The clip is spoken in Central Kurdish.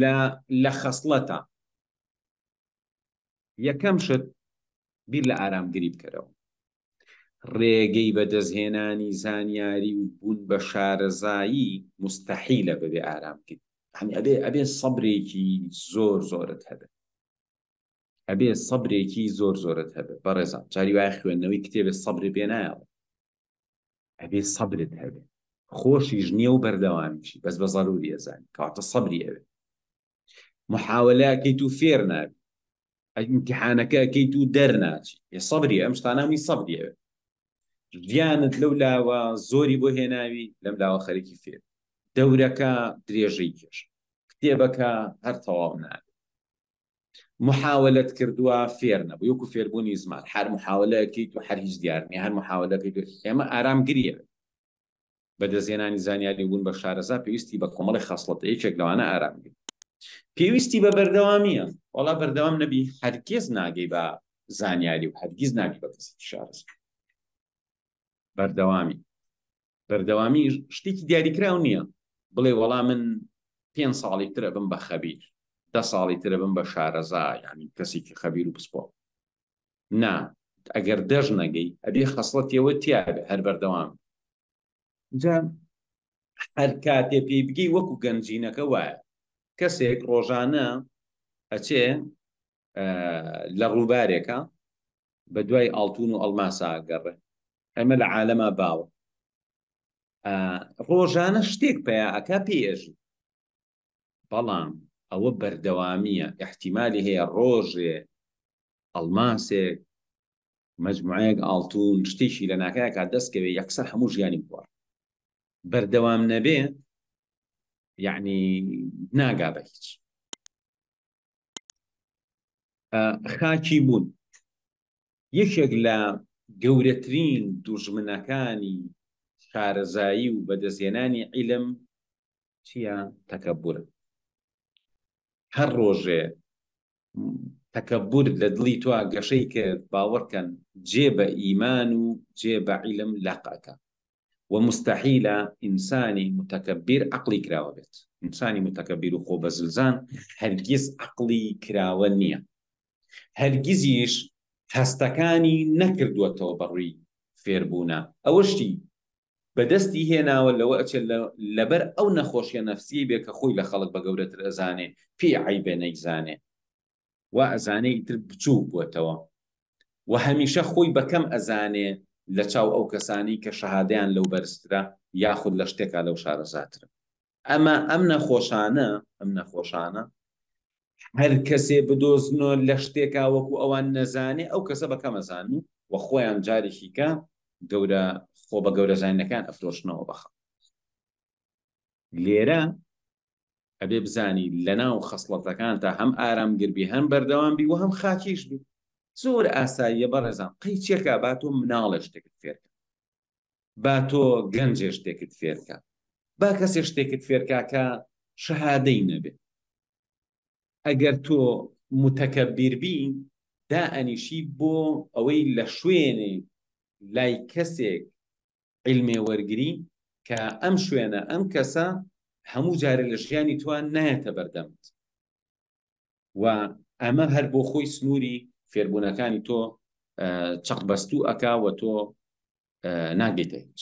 لە لە خەسڵەتە یەکەم شت بیر لە ئارامگری بکەرەوە ڕێگەی بەدەستهێنانی زانیاری و بوون بە شارەزایی مستەحیلە بەبێ ئارامگری هەنی ئەبێ ئەبێ سەبرێکی زۆر زۆرت هەبێت ئەبێ سەبرێکی زۆر زۆرت هەبێت بەڕێزان جاری وایە خوێندنەوەی کتێبێت سەبری پێ نایەڵێ ئەبێ سەبرت هەبێ خۆشیش نییە و بەردەوامیشی بەس بە زەروری ئەزانانی کاتە سەبری ئەوێ محاولەکەیت و فێر نابی ئەگیمتحانەکە ئەکەیت و دەرناچی ێ سەبری ئەم شتانامی سەبری ئەوێ ژیانت لەو لاوە زۆری بۆ هێناوی لەم لاوە خەرکی فێر دەورەکە درێژەی کێش کتێبەکە هەر تەواو نابێت محاولەت کردوە فێر نەبوی وەکو فێربونی زمان حەر محاولە کەی تو حەر هیچ دیار نیە هەر محاولە کەی تو ئێمە ئارام گریە بە دەزێنانی زانیاری بون بە شارەزا پێویستی بە کۆمەڵی خەسڵەتە یەکێک لەوانە ئارام گری پێویستی بە بەردەوامیە وەڵا بەردەوام نەبی هەرگێز ناگەی بە زانیاری و هەرگیز ناگی بە کەسی شارەزا بەردەوامی بەردەوامیش شتێکی دیاریکراو نییە بڵێ وەڵا من پێ ساڵی ترە بم بە خەبیر دە ساڵی ترە بم بە شارەزا یعنی کەسێکی خەبیر و پسپۆ نا ئەگەر دەژ نەگەی ئەبێ خەسڵەتەوە تیاێ هەر بەردەوام جا هەر کاتێ پێی بگەی وەکو گەنجینەکە وایە کەسێک ڕۆژانە ئەچێ لە ڕووبارێکا بە دوای ئاڵتون و ئەڵماسا گەڕێ ئەمە لە عالەما باوە ڕۆژانە شتێک پیاکە پێژی بەڵام ئەوە بەردەوامیە احتیممالی هەیە ڕۆژێ ئەڵماسێک مجموعەیەک ئاڵتون شتێکی لە ناکایەکە دەستکەوێ یەکسەر هەموو ژیانی بوار بەردەوام نەبێ یعنی ناگا بە هیچ خاکی بوون یەکێک لە گەورەترین دوژمنەکانی شارەزایی و بەدەستێنانی عیلم چیە تەکەبورە هەر ڕۆژێ تەکەبور لە دڵی توا گەشەی کرد باوەڕکەن جێ بە ئیمان و جێ بە عیلم لەقەکە و موستەحیلە ئینسانی موتەکەبیر عەقڵی کراوە بێت. ئینسانی موتەکەبیر و خۆبەزلزان هەرگیز عەقڵی کراوە نییە. هەرگیزیش هەستەکانی نەکردووەتەوە بە ڕووی فێربوونا. ئەوەشی بە دەستی هێناوە لەوە ئەچێت لە لەبەر ئەو نەخۆشیە نەفسیەی بێ کە خۆی لە خەڵک بە گەورەتر ئەزانێ، پێی عەیبە نەیزانێ. وا ئەزانێ ئیتر بچووک بووەتەوە و هەمیشە خۆی بە کەم ئەزانێ لە چاو ئەو کەسانەی کە شەهادەیان لەو بەرزترە یاخود لە شتێکا لەو شارەزاترە ئەمە ئەم نەخۆشانە ئەم نەخۆشانە هەر کەسێ بدۆزنەوە لە شتێکا وەکو ئەوان نەزانێ ئەو کەسە بەکەمەزان و و خۆیان جارێکیکە گەورە خۆ بە گەورەزانینەکان ئەفرۆشنەوە بەخە لێرە ئەبێ بزانی لەناو خەسڵەتەکان تا هەم ئارامگربی هەم بەردەوام بی و هەم خاکیش بی زۆر ئاساییە بەڕێزان قەی چێکا با تۆ مناڵە شتێکت فێرکە با تۆ گەنجێ شتێکت فێرکە با کەسێ شتێکت فێرکاکە شەهادەی نەبێت ئەگەر تۆ متەکە بیربی دا ئەنیشی بۆ ئەوەی لە شوێنێ لای کەسێک عیلمێ وەرگری کە ئەم شوێنە ئەم کەسە هەموو جارێ لە ژیانی تۆ نایەتە بەردەمت و ئەمە هەر بۆ خۆی سنووری فێربوونەکانی تۆ چەقبەستوو ئەکا و تۆ ناگەیتە هیچ